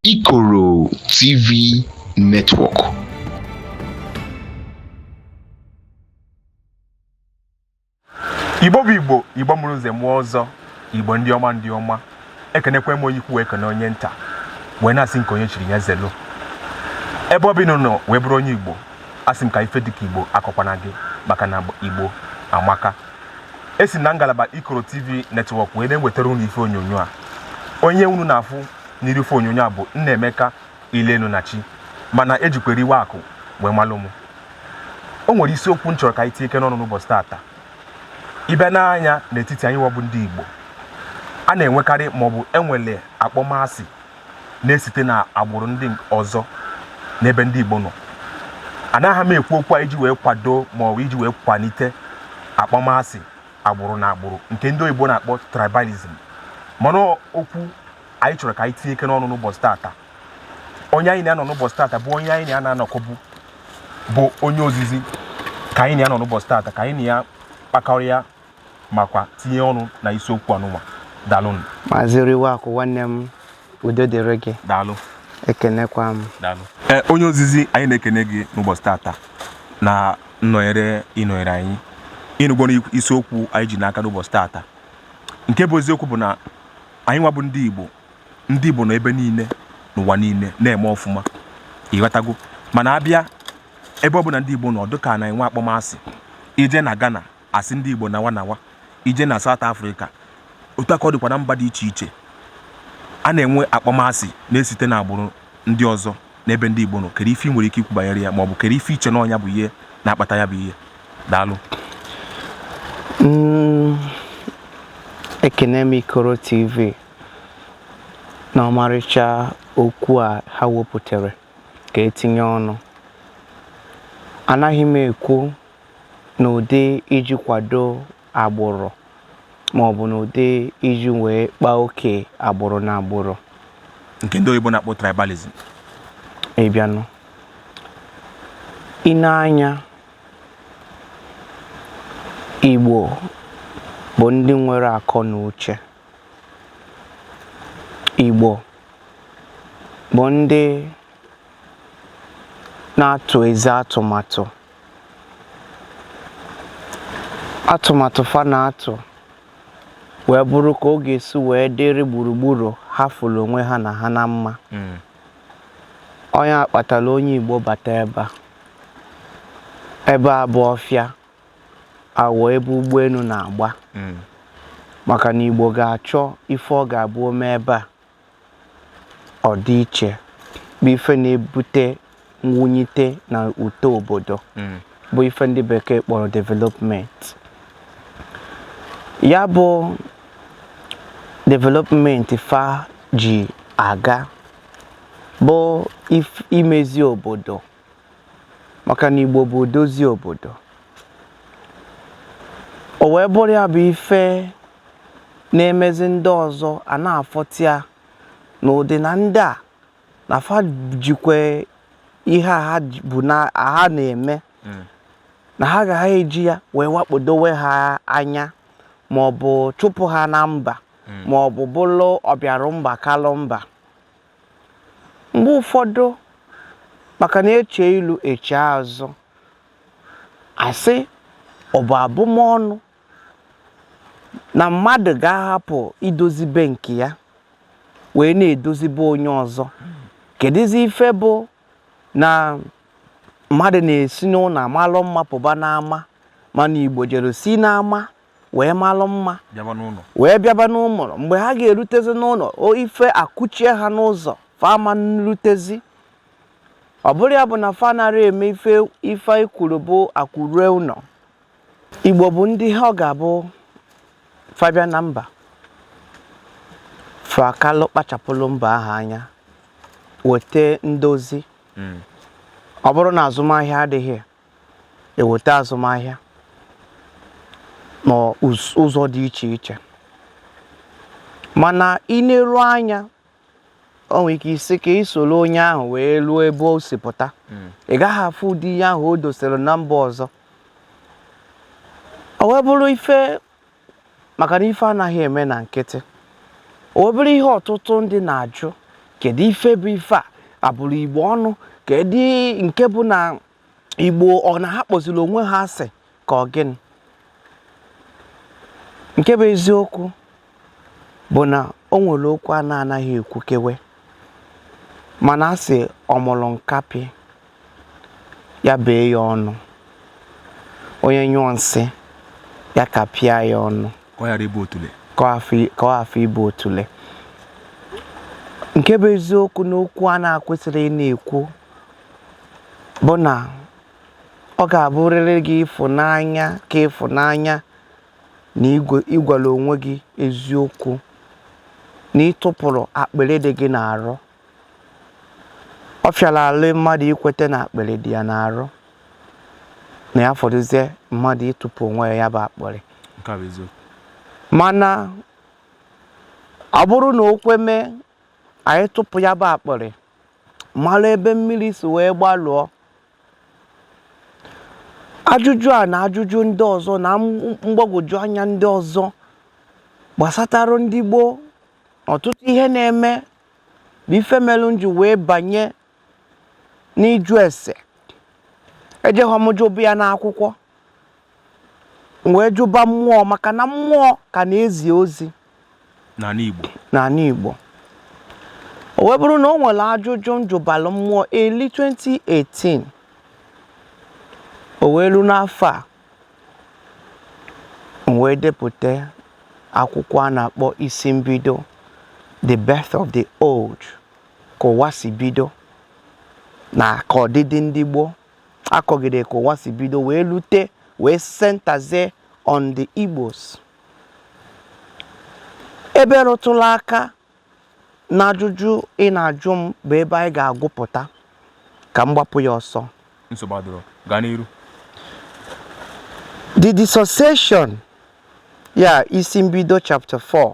Ikoro TV Network. igbo bụ igbo igbo mụrụ nze mụọ ọzọ igbo ndị ọma ndị ọma ekenekwe m onye ukwu wee kene onye nta wee na-asị nke onye chiri ya zelu ebe ọ bụ ị nọ wee bụrụ onye igbo asị m ka ife dịka igbo akọkwana gị maka na igbo amaka esi m na ngalaba ikoro tv network wee na-ewetara unu ife onyonyo a onye unu na-afụ n'iru ife onyonyo a bụ Nnaemeka Ilenu na Chi mana ejikwa riwe akụ wee malụ m o nwere isiokwu m chọrọ ka anyị tinyekene ọnụ n'ụbọchị tata ịbịa nee anya n'etiti anyị nwa bụ ndị Igbo a na-enwekarị maọbụ enwele akpọmasị na-esite na agbụrụ ndị ọzọ n'ebe ndị Igbo nọ anaghị m ekwu okwu a iji wee kwado maọbụ iji wee kwalite akpọmasị agbụrụ na agbụrụ nke ndị oyibo na-akpọ tribalism mana okwu anyị chọrọ ka anyị tinyekene ọnụ n'ụbọchị tata onye anyị na ya nọ n'ụbọchị tata bụ onye anyị na ya na-anọkọbu bụ onye ozizi ka anyị na ya nọ n'ụbọchị tata ka anyị na ya kpakọrịa makwa tinye ọnụ na isiokwu anụnwa dalụnụ maazị riwe akụ nwanne m udo dịrị gị daalụ ekenekwa m daalụ ee onye ozizi anyị na-ekene gị n'ụbọchị tata na nnọnyere ịnọnyere anyị ị nụgwo isiokwu anyị ji n'aka n'ụbọchị tata nke bụ eziokwu bụ na anyị nwa bụ ndị Igbo ndị Igbo nọ ebe niile n'ụwa niile na-eme ọfụma ịghọtago mana abịa ebe ọ bụna ndị Igbo nọ dịka a na-enwe akpọmasị i jee na Ghana Asị ndị Igbo nawa nawa, i jee na South Africa, otu a ka ọ dịkwa na mba dị iche iche, a na-enwe akpọmasị na-esite n'agbụrụ ndị ọzọ n'ebe ndị Igbo nọ. Kedu ife ị nwere ike ikwu banyere ya ma ọ bụ kedu ife i che na ọ nya bụ ihe na-akpata ya bụ ihe? Daalụ. Mm, ekene m Ikoro TV na ọmarịcha okwu a ha wepụtara ka etinye ọnụ. Anaghị m ekwu n'ụdị iji kwado agbụrụ ma ọ bụ n'ụdị iji wee kpaa oke agbụrụ na agbụrụ nke ndị oyibo na-akpọ tribalism ịbịanụ nee anya Igbo bụ ndị nwere akọ na uche Igbo bụ ndị na-atụ ezi atụmatụ atụmatụ fa na-atụ wee bụrụ ka ọ ga-esi wee dịrị gburugburu ha fụrụ onwe ha na ha na mma hmm. ọ nya kpatara onye Igbo bata ebe a ebe a bụ ọfịa awọ ebe ụgbọelu na-agba hmm. maka na Igbo ga-achọ ife ọ ga-abụ o mee ebe a ọdịiche bụ ife na-ebute mwunyite na uto obodo hmm. bụ ife ndị bekee kpọrọ development ya bụ development fa ji aga bụ imezi obodo maka na Igbo bụ odozi obodo o wee bụrụ ya bụ ife na-emezi ndị ọzọ a na-afụta ya na ụdị na ndị a na fa jikwa ihe a ha na-eme na ha gaghị eji ya wee wakpodowe ha anya ma ọ bụ chụpụ ha na mba ma ọ bụ bụrụ ọbịarụ mba kalụ mba mgbe ụfọdụ maka na eche ilu eche azụ a sị ọ bụ abụmọnụ na mmadụ ga-ahapụ idozi be nke ya wee na-edozi be onye ọzọ kedụzi ife bụ na mmadụ na-esi n'ụnọ amalụ mma pụba n'ama mana igbo jere si n'ama wee malụ mma wee bịaba n'ụnọ mgbe ha ga-elutezi n'ụnọ ife akụchie ha n'ụzọ fa ama nrutezi ọ bụrụ ya bụ na fa anara eme ife e kwuru bụ akụ rue ụnọ Igbo bụ ndị ọ ga-abụ fa bịa na mba fa akalụ kpachapụlụ mba ahụ anya weta ndozi hmm. ọ bụrụ na azụmahịa adịghị ya e weta azụmahịa n'ụzọ dị iche iche mana i neru anya o nwere ike ị sị ka ị soro onye ahụ wee ruo ebe o si pụta ị gaghị afụ ụdị ihe ahụ o dosere na mba ọzọ o wee bụrụ ife maka na ife anaghị eme na nkịtị o wee bụrụ ihe ọtụtụ ndị na-ajụ kedu ife bụ ife a a bụrụ igbo ọnụ kedu nke bụ na igbo ọ na ha kpọziri onwe ha asị ka ọ gịnị nke bụ eziokwu bụ na o nwere okwu a na-anaghị ekwukewe mana a sị ọmụrụ nkapị ya bee ya ọnụ onye nyụọ nsị ya kapịa ya ọnụ ka ọ hafụ ịbụ otule nke bụ eziokwu n'okwu a na-akwesịrị ị na-ekwu bụ na ọ ga-abụrịrị gị ịfụnanya ka ịfụnanya na ị gwala onwe gị eziokwu na ị tụpụrụ akpịrị dị gị n'arụ ọ fịara arụ mmadụ ikweta na akpịrị dị ya n'arụ na ya fọdụzie mmadụ ịtụpụ onwe ya ya bụ akpịrị mana ọ bụrụ na o kwe mee anyị tụpụ ya bụ akpịrị malụ ebe mmiri si wee gbalụọ ajụjụ a na ajụjụ ndị ọzọ na mgbagwoju anya ndị ọzọ gbasatara ndị gboo na ọtụtụ ihe na-eme bụ ife melụ m ji wee banye n'ịjụ ese ejehọ m jụba ya n'akwụkwọ m wee jụba mmụọ maka na mmụọ ka na-ezi ozi n'anị Igbo o wee bụrụ na o nwere ajụjụ m jụbalụ mmụọ eli 2018 o wee ru n'afọ a m wee depụta akwụkwọ a na-akpọ isi mbido the birth of the world ka ụwa si bido na ka ọdịdị ndị gboo akọgide ka ụwa si bido wee lute wee centerzie on the Igbos ebe rụtụlụ aka n'ajụjụ ị na-ajụ m bụ ebe anyị ga-agụpụta ka m gbapụ ya ọsọ nsogbu adịrọ gaa n'iru the dissociation ya isi mbido chapter 4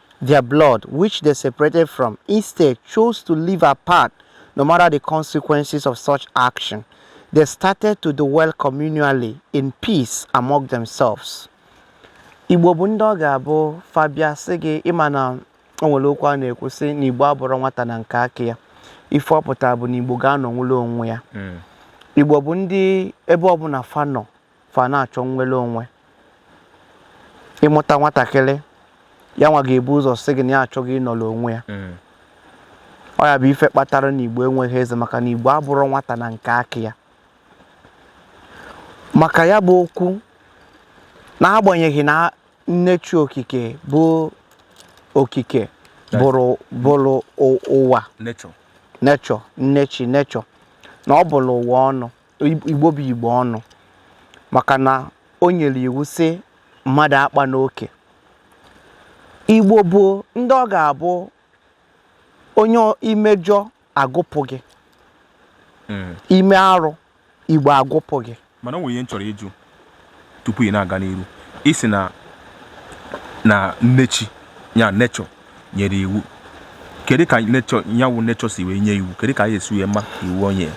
Their blood, which they separated from, instead chose to live apart no matter the consequences of such action. They started to dwell communally in peace among themselves. Igbo bụ ndị ọ ga-abụ fa bịa sị gị ị ma na o nwere okwu a na-ekwu sị na Igbo abụrọ nwata na nke aka ya ife ọ pụtara bụ na Igbo ga-anọ nwere onwe ya Igbo bụ ndị ebe ọbụna fa nọ fa na-achọ nnwere onwe ị mụta nwatakịrị ya nwa ga-ebu ụzọ sị gị na ya achọgo ịnọrọ onwe ya mm. ọ ya bụ ife kpatara na igbo enweghị eze maka na igbo abụrọ nwata na nke aka ya maka ya bụ okwu n'agbanyeghị na nne chi okike bụ okike ụwa nne chi nechọ na ọ bụrụ ụwa ọnụ igbo bụ igbo ọnụ maka na o nyere iwu sị mmadụ akpana oke igbo bụ ndị ọ ga-abụ onye i mejọọ a gụpụ gị hmm. i mee arụ igbo agụpụ gị mana o nwere ihe m chọrọ ịjụ tupu ị na-aga n'iru ị sị na na nnechi ya nature nyere iwu kedu ka nature ya wụ nature si wee nye iwu kedu ka anyị si wee ma iwu o nyere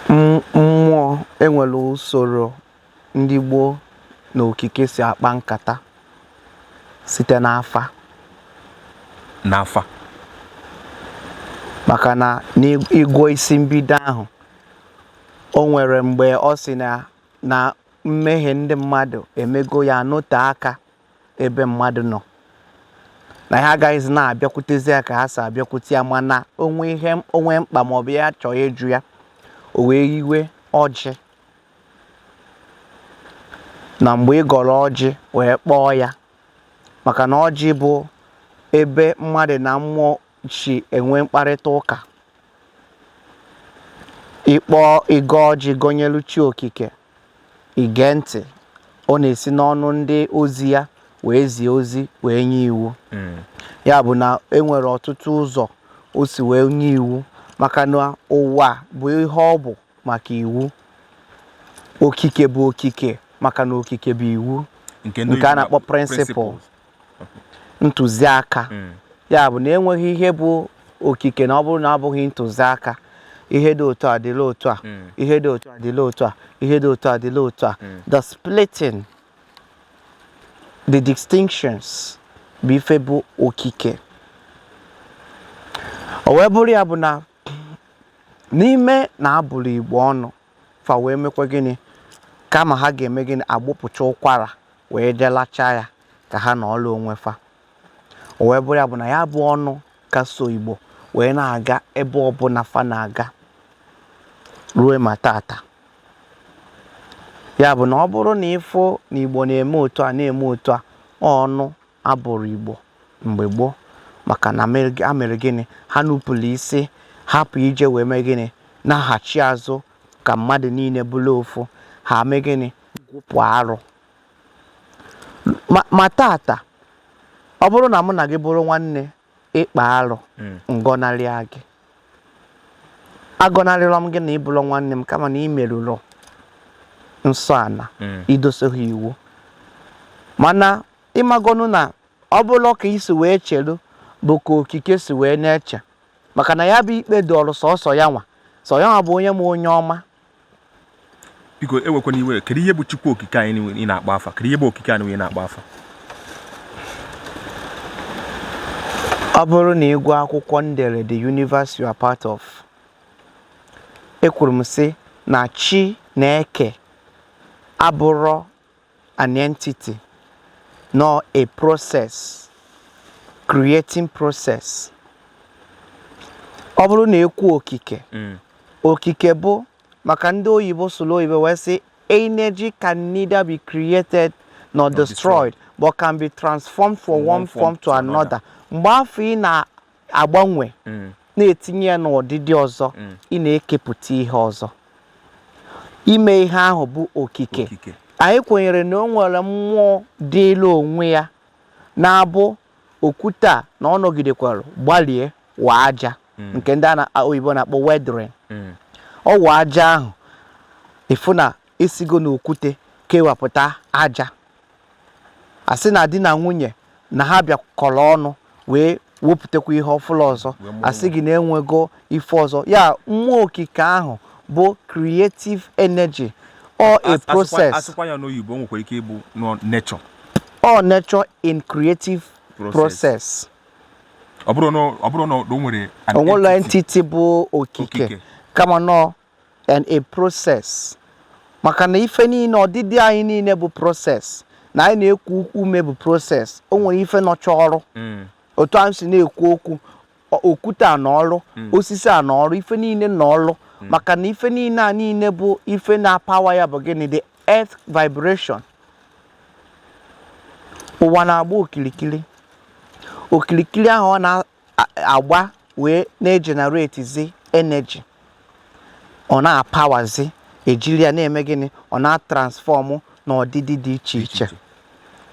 M- mmụọ enwere usoro ndị gboo na okike si akpa nkata site n'afa n'afa maka na n'ịgwọ isi mbido ahụ O nwere mgbe ọ sị na na mmehie ndị mmadụ emego ya anọte aka ebe mmadụ nọ na ha agaghịzi na-abịakwutezi ya ka ha si abịakwute ya mana o nwee ihe o nwee mkpa maọbụ ya chọọ ịjụ ya o wee yiwe ọjị na mgbe ị gọrọ ọjị wee kpọọ ya maka na ọjị bụ ebe mmadụ na mmụọ si enwe mkparịta ụka ịkpọ ị gọọ ọjị gọnyelu chi okike i gee ntị ọ na-esi n'ọnụ ndị ozi ya wee zie ozi wee nye iwu hmm. ya bụ na enwere ọtụtụ ụzọ o si wee nye iwu maka na ụwa bụ ihe ọ bụ maka iwu okike bụ okike maka na okike bụ iwu nke a na-akpọ principle ntụziaka hmm. ya bụ na enweghị ihe bụ okike na ọ bụrụ na ọ bụghị ntụziaka ihe dị otu a dịla otu a hmm. ihe dị otu a dịla otu a ihe dị otu a dịla otu a hmm. the splitting the distinctions bụ ife bụ okike o wee bụrụ ya bụ na n'ime na a bụrụ igbo ọnụ fa wee mekwa gịnị kama ha ga-eme gịnị agbụpụcha ụkwara wee jee lachaa ya ka ha nọọlụ onwe fa o wee bụrụ ya bụ na ya bụ ọnụ ka so igbo wee na-aga ebe ọbụla fa na-aga ruo ma taata ya bụ na ọ bụrụ na ị fụ na igbo na-eme otu a na-eme otu a ọnụ a bụrụ Igbo mgbe gboo maka na ha mere gịnị ha nupụrụ isi hapụ ije wee mee gịnị naghachi azụ ka mmadụ niile bụrụ ofu ha mee gịnị gụpụ arụ ma taata ọ bụrụ na mụ na gị bụrụ nwanne ị kpaa arụ hmm. m gọnarịa gị agọnarịrọ m gị na ị bụrọ nwanne m kama na ị merụrụ nsọ ala hmm. i dosoghị iwu mana ịmagonu na ọ bụrọ ka i si wee cheru bụ ka okike si wee na-eche maka na ya bụ ikpe dịịrị sọsọ ya nwa sọ ya nwa bụ onye ma onye ọma biko ewekwana iwe kedu ihe bụ chukwu okike anyị ị na-akpọ afa kedu ihe bụ okike anyị ị na-akpọ afa ọ bụrụ na ị gụọ akwụkwọ m dere the universe you are part of ekwuru m sị na chi na-eke abụrọ an entity nor a process creating process ọ bụrụ na e kwuo okike mm. okike bụ maka ndị oyibo sụrụ oyibo wee sị energy can neither be created nor destroyed but can be transformed from one form to another mgbe afụ ị na agbanwe na-etinye ya n'ọdịdị ọzọ ị na-ekepụta ihe ọzọ ime ihe ahụ bụ okike anyị kwenyere na o nwere mmụọ dịrị onwe ya na-abụ okwute a na ọ nọgidekwara gbalie wa aja hmm. nke ndị oyibo na-akpọ weathering hmm. ọ wa aja ahụ ị fụ na e sigo n'okwute kewapụta aja a sị na di na nwunye na ha bịakọrọ ọnụ wee wepụtakwa ihe ọfụrụ ọzọ a sị gị na e nwego ife ọzọ ya mmụọ okike ahụ bụ creative energy or a process a sụkwa ya n'oyibo nwekwara ike ịbụ nature or nature in creative process ọ bụrọ na o nwere o nwere entity bụ okike kama na ọ na process maka na ife niile ọdịdị anyị niile bụ process na anyị na-eku ume bụ process o nwerọ ife nọcha ọrụ mm. otu a m si na-ekwu okwu okwute a na ọrụ mm. osisi a na ọrụ ife niile na ọrụ mm. maka na ife niile a niile bụ ife na-apawa ya bụ gịnị the earth vibration ụwa na-agba okirikiri okirikiri ahụ ọ agba wee na-ejeneretizi energy ọ na-apawazi e jiri ya na-eme gịnị ọ na-atransfọmụ n'ọdịdị dị iche iche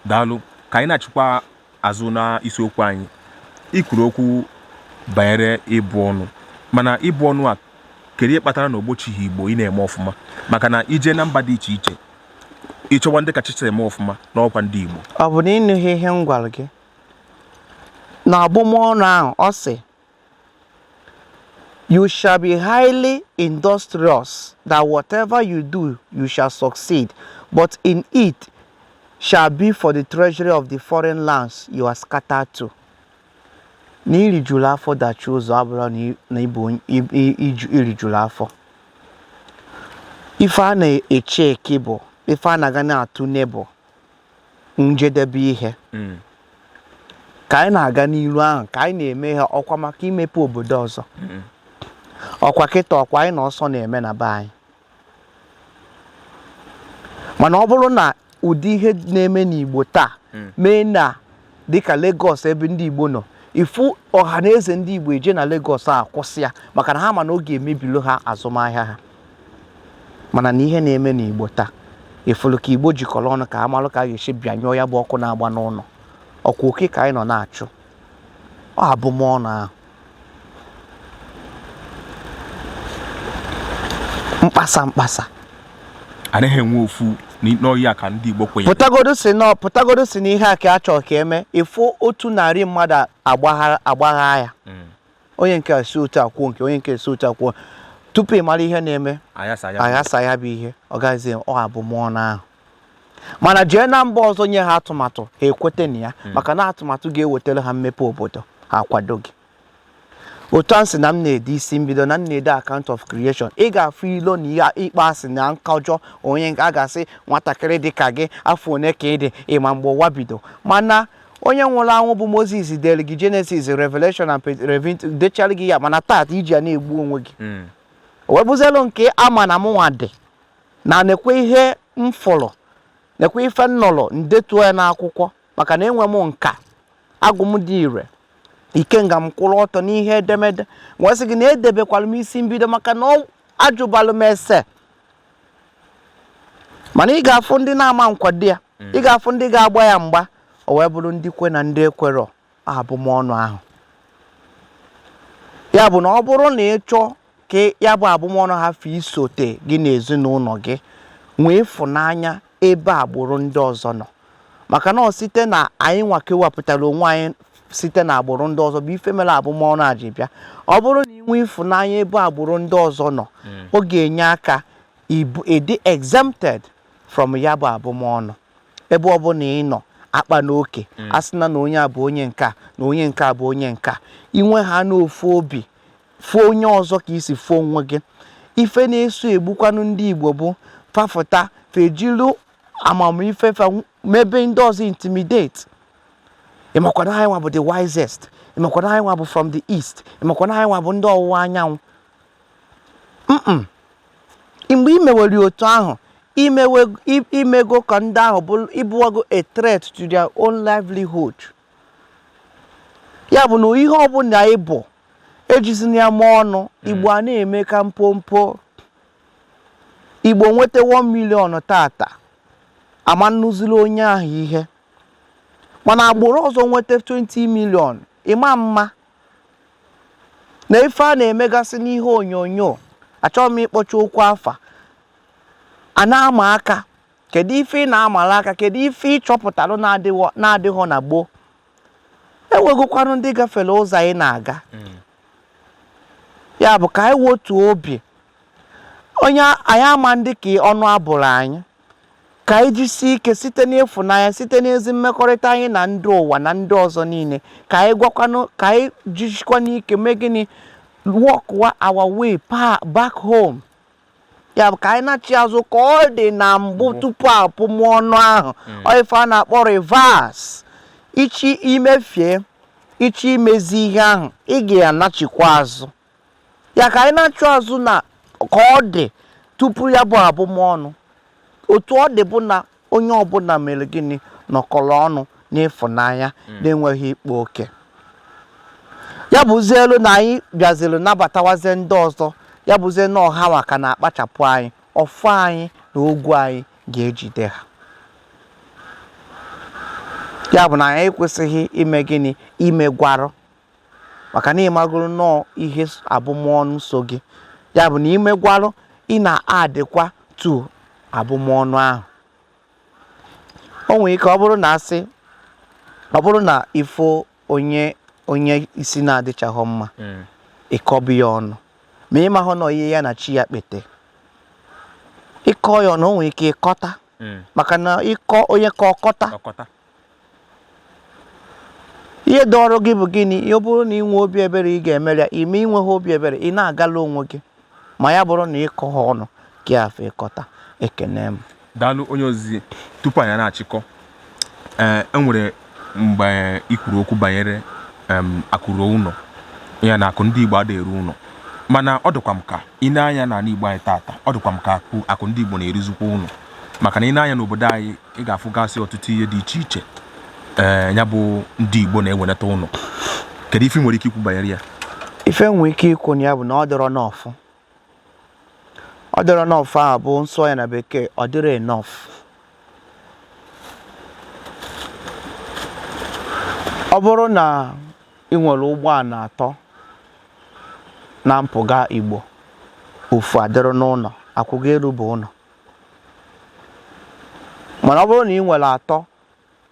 daalụ ka anyị naghachikwa azụ na isiokwu anyị i kwuru okwu banyere ịbụ ọnụ mana ịbụ ọnụ a kedu ihe kpatara na o gbochighị igbo ị na-eme ọfụma maka na i jee na mba dị iche iche ị chọwa ndị kachacha eme ọfụma na ọ kwa ndị igbo ọ bụ na ị nụghị ihe m gwara gị na abụmọnụ ahụ ọ sị you shall be highly industrious that whatever you do you shall succeed but in it shall be for the treasury of the foreign lands you are scattered to na irijuru afọ dachie ụzọ abụrọ na ịbụ irijuru afọ ife a na-eche eke bụ ife a na-aga na-atụ n'ebụ njedebe ihe mm. ka anyị na-aga n'iru ahụ ka anyị na-eme ha ọkwa maka imepe obodo ọzọ mm. ọkwa kịta ọkwa anyị na ọsọ na-eme na be anyị mana ọ bụrụ na ụdị ihe na-eme n'Igbo taa mm. mee na dịka Lagos ebe ndị Igbo nọ ị fụ Ọhanaeze ndị Igbo eje na Lagos akwụsị ya maka na ha ma na ọ ga-emebilu ha azụmahịa ha mana na ihe na-eme n'Igbo taa ị fụlụ ka Igbo jikọrọ ọnụ ka ha malụ ka a ga-esi bịanyụọ ya bụ ọkụ na-agba n'ụnọ ọkwa oke ka anyị nọ na-achụ ọ abụmọnụ ahụ mkpasa mkpasa anaghị enwe ofu n'ọhịa ka ndị Igbo kwenyere pụtagodu sị na pụtagodu sị na ihe a ka a chọrọ ka e mee ị fụ otu narị mmadụ agbagha ya hmm. onye nke si otu a kwuo nke onye nke si otu a kwuo tupu ị mara ihe na-eme a yasaa ya bụ ihe ọ gaghịzi ọ abụmọnụ ahụ mana jee na mba ọzọ nye ha atụmatụ ha ekweta na ya hmm. maka na atụmatụ ga-ewetara ha mmepe obodo ha akwado gị otu a sị na m na-ede isi mbido na m na-ede account of creation ị ga-afụ ilo na ihe ịkpọ asị na nkọjọ onye a ga-asị nwatakịrị dị ka gị afọ one ka ị dị ị ma mgbe ụwa bido mana onye nwụrụ anwụ bụ moses dere gị genesis revelation and revit dechara gị ya mana taata i ji ya na-egbu onwe gị hmm. wee bụzielu nke ama na mụnwa dị na nekwe ihe m fụrụ nekwe ife m nụrụ m detuo ya n'akwụkwọ maka na enwe m nka agwụ m dị ire ikenga m kwụrụ ọtọ n'ihe edemede m wee sị gị na edebekwara m isi mbido maka na ọ- ajụbalụ m ese mana ị ga-afụ ndị na-ama nkwado ya ị ga-afụ ndị ga-agba ya mgba o wee bụrụ ndị kwe na ndị ekwerọ abụmọnụ ahụ ya bụ na ọ bụrụ na ị chọọ ka ya bụ abụmọnụ hafụ isote gị na ezinụnọ gị nwee ịfụnanya ebe agbụrụ ndị ọzọ nọ maka na ọ site na anyị nwa kewapụtara onwe anyị site na agbụrụ ndị ọzọ bụ ife mere abụmọnụ a ji bịa ọ bụrụ na i nwee ịfụnanya ebe agbụrụ ndị ọzọ nọ ọ ga-enye aka ịbụ- ịdị exempted from ya bụ abụmọnụ ebe ọ bụna ị nọ akpana oke mm. asịna na onye a bụ onye nke a na onye nke a bụ onye nke a i nwee ha n'ofu obi fụọ onye ọzọ ka i si fụọ onwe gị ife na-eso egbukwanụ ndị Igbo bụ fa fụta fa ejilu amamife fa mebe ndị ọzọ intimidate ị makwa na anyị nwa bụ the wisest ị makwa na anyị nwa bụ from the east ị makwa na anyị nwa bụ ndị ọwụwa anyanwụ mgbe i mewere otu ahụ i mego ka ndị ahụ bụrụ ị bụwago a threat to their own livelihood ya bụ na ihe ọbụla ị bụ ejizina ya eme ọnụ hmm. igbo a na-eme ka mpompo igbo nweta 1 million tata a ma nụziri onye ahụ ihe mana agbụrụ ọzọ nweta 20 million ị ma ama na ife a na-emegasị n'ihe onyonyo achọghị m ịkpọcha okwu afa a na-ama aka kedu ife ị na-amala aka kedu ife ị chọpụtalụ na-adịghọ na gboo e nwegokwanụ ndị gafere ụzọ anyị na-aga hmm. ya bụ ka anyị wotuo obi onye anyị ama ndị ka ọnụ abụrụ anyị Ka anyị jisie ike site n'ịfụnanya, site n'ezi mmekọrịta anyị na ndị ụwa na ndị ọzọ niile, ka anyị gwakwanụ ka anyị jisikwanụ ike mee gịnị walkwa our way pa- back home ya bụ ka anyị nachi azụ ka ọ dị na mbụ tupu abụmọnụ ahụ ọ ife a na-akpọ reverse ị chọ i mefie ị chọ imezi ihe ahụ ị ga-anachikwa azụ ya ka anyị nachi azụ na ka ọ dị tupu ya bụ abụmọnụ otu ọ dị bụ na onye ọbụla mere gịnị nọkọrọ ọnụ n'ịfụnanya hmm. na-enweghị ịkpa oke ya bụzịlụ na anyị bịaziri nabatawazie ndị ọzọ ya bụzie na ọ ha nwa ka na-akpachapụ anyị ọfọ anyị na ogu anyị ga-ejide ha ya bụ na anyị ekwesịghị ime gịnị imegwarụ maka na ị magoro na ọ ihe abụmọnụ so gị ya bụ na i megwarụ ị na-addikwa to abụmọnụ ahụ o nwere ike ọ bụrụ na asị ọ bụrụ na ị fụ onye onye isi na-adịchaghọ mma hmm. ị kọba ya ọnụ ma ị mahọ na ihe ya na chi ya kpeta ị kọ ya ọnụ o nwere ike ịkọta hmm. maka na ịkọ onye ka ọ kọta ihe dị ọrụ gị bụ gịnị ọ bụrụ na ị nwee obi ebere ị ga-emere ya i mee i nwehọ obi ebere ị na-agala onwe gị ma ya bụrụ na ịkọ ha ọnụ gị afọ ịkọta ekene m daalụ onye ozizi tupu anyị na-achịkọ ee e nwere mgbe i kwuru okwu banyere akụ ruo ụlọ ya na akụ ndị Igbo adịghị eru ụlọ mana ọ dịkwa m ka i nee anya n'ala Igbo anyị taata ọ dịkwa m ka akụ ndị Igbo na-eruzikwa ụlọ maka na i nee anya n'obodo anyị ị ga-afụgasị ọtụtụ ihe dị iche iche ee ya bụ ndị Igbo na-ewenata ụlọ kedu ife i nwere ike ikwu banyere ya ife m nwere ike ikwu na ya bụ na ọ dịrọ enough ọ dịrọ enough ahụ bụ m sụọ ya na bekee ọ dịrọ enough ọ bụrụ na ị nwere ụgbọala atọ na mpụga Igbo ofu adịrị n'ụlọ akụ gị elube ụlọ mana ọ bụrụ na ị nwere atọ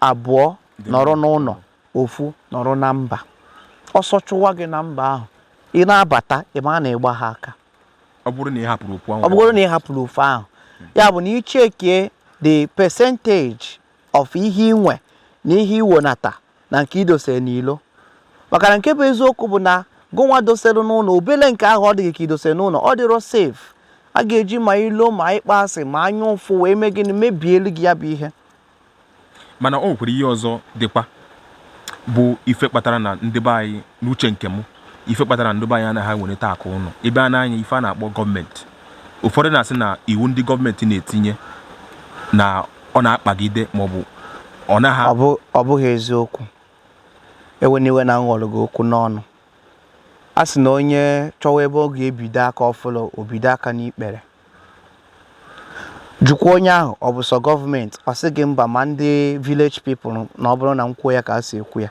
abụọ nọrọ n'ụlọ ofu nọrọ na mba ọsọ chụwa gị na mba ahụ ị na-abata ị ma na ị gbaha aka ọ bụrụ na ị hapụrụ ofu ahụ ya bụ na i checkie the percentage of ihe i nwe na ihe i wenata na nke i dosere n'ilo maka na nke bụ eziokwu bụ na gịnwa dosere n'ụlọ obele nke ahụ ọ dị gị ka i dosere n'ụlọ ọ dịrọ safe a ga-eji ma ilo ma ịkpọ asị ma anya ụfụ wee mee gịnị mebielu gị ya bụ ihe mana o nwekwara ihe ọzọ dịkwa bụ ife kpatara na ndị be anyị n'uche nke m ife kpatara ndị be anyị anaghị ewelata akụ ụlọ ị bịa nee anya ife a na-akpọ gọọmenti ụfọdụ na-asị na iwu ndị gọọmenti na-etinye na ọ na-akpagide maọbụ ọ naghị ọ bụghị eziokwu ewena iwe na m ghọrọ gị okwu n'ọnụ a sị na onye chọwa ebe ọ ga-ebido aka ọ fụrọ o bido aka n'ikpere jụkwa onye ahụ ọ bụ sọ gọọmenti ọ sị gị mba ma ndị village people na ọ bụrụ na m kwuo ya ka a si ekwu ya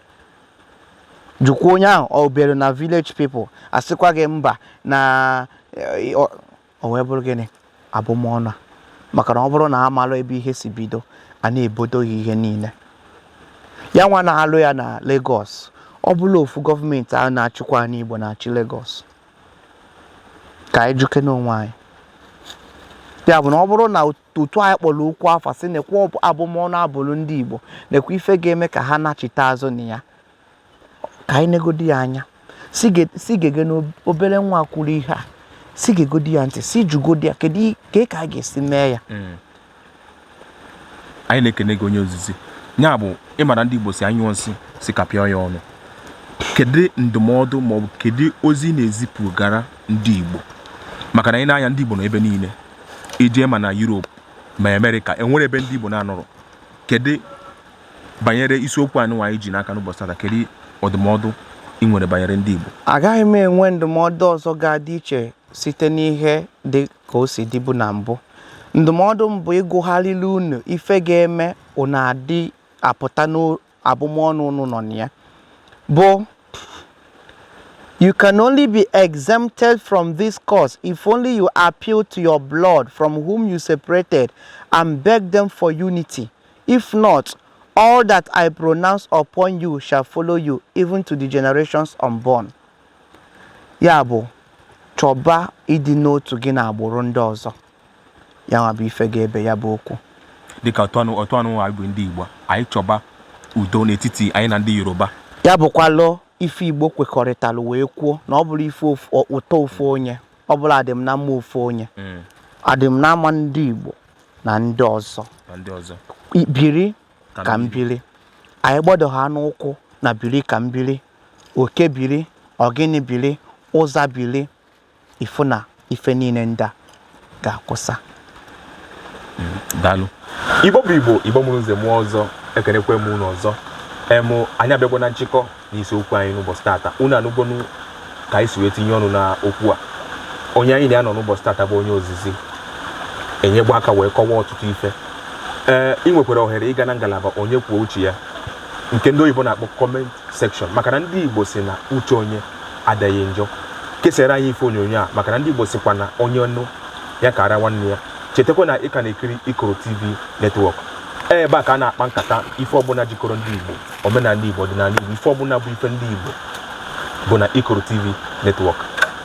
jụkwa onye ahụ ọ bụrụ na village people asịkwa gị mba na eh, o wee bụrụ gịnị abụmọnụ a maka na ọ bụrụ na a malụ ebe ihe si bido a na-ebodo ya ihe niile ya nwa na-alụ ya na Lagos ọ bụrọ ofu gọọmenti a na-achịkwa anị Igbo na-achị Lagos ka anyị jụkene onwe anyị ya bụ na ọ bụrụ na otu anyị kpọrọ okwu afa sị nekwa abụmọnụ a bụrụ ndị Igbo nekwa ife ga-eme ka ha nachite azụ na ya ka anyị negodi ya anya sị gege na obere nwa kwuru ihe a sị gegodi ya ntị sị jụgodi ya kedu ka ka a ga-esi mee ya hmm. anyị na-ekene gị onye ozizi ya bụ ị mara ndị Igbo sị a nyụọ nsị sị ka a pịa ya ọnụ kedu ndụmọdụ maọbụ kedu ozi ị na-ezipụgara ndị Igbo maka na i nee anya ndị Igbo nọ ebe niile i jee ma na Europe ma Amerịka e nwere ebe ndị Igbo na-anọrọ kedu banyere isiokwu a nwa anyị ji n'aka n'ụbọchị tata kedu ọdụmọdụ ị nwere banyere ndị Igbo agaghị m enwe ndụmọdụ ọzọ ga-adị iche site n'ihe dị ka o si dịbu na mbụ ndụmọdụ m bụ ịgụgharịrị unu ife ga-eme unu adị apụta n'abụmọnụ unu nọ na ya bụ You can only be exempted from this curse if only you appeal to your blood from whom you separated and beg them for unity. If not, all that I pronounce upon you shall follow you, even to the generations unborn. Ya bụ, chọba ịdị n'otu gị na agbụrụ ndị ọzọ. Ya nwa bụ ife ga-ebe ya bụ okwu. Dịka otu anụ otu anụ anyị bụ ndị Igbo, anyị chọba udo n'etiti anyị na ndị Yoruba. Ya bụkwalụ ife Igbo kwekọrịtalụ wee kwuo na ọ bụrọ ife ụtọ ofu onye, ọ bụrọ adị m na mma ofu onye. Adị m na mma ndị Igbo. na ndị ọzọ na ndị ọzọ I- biri ka m biri anyị gbado ha n'ụkwụ na biri ka m biri oke biri ogini biri ụza biri ị fụ na ife niile ndị a ga-akwụsị daalụ igbo bụ igbo igbo mụrụ nze mụọ ọzọ ekenekwe m unu ọzọ em anyị abịagwo na nchịkọ N'isi okwu anyị n'ụbọchị tata, unu anụgonu ka anyị si wee tinye ọnụ na okwu a. Onye anyị na ya nọ n'ụbọchị tata bụ onye ozizi enyegwo aka wee kọwaa ọtụtụ ife. Ee, ị nwekwara ohere ịga na ngalaba onye kwuo uche ya nke ndị oyibo na-akpọ comment section maka na ndị Igbo si na uche onye adịghị njọ. Kesara anyị ife onyonyo a maka na ndị Igbo sikwa na onye nụ ya kaara nwanne ya. Chetakwa na ị ka na-ekiri Ikoro TV Network. Ee, ebe a ka a na-akpa nkata ife ọbụla jikọrọ ndị Igbo. omenala Igbo ọdịnala Igbo ife ọbụla bụ ife ndị Igbo bụ na Ikoro TV Network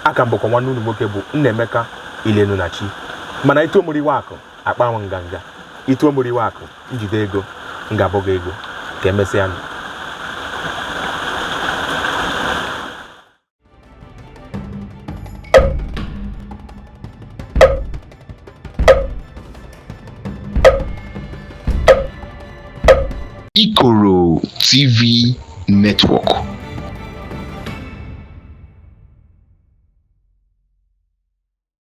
a ka m bụkọ nwanne unu nwoke bụ Nnaemeka Ilenunachi mana i too m eriwe akụ akpanwụ nganga i too m eriwe akụ m jide ego m ga-abụ gị ego ka emesịa nụ Ikoro TV Network.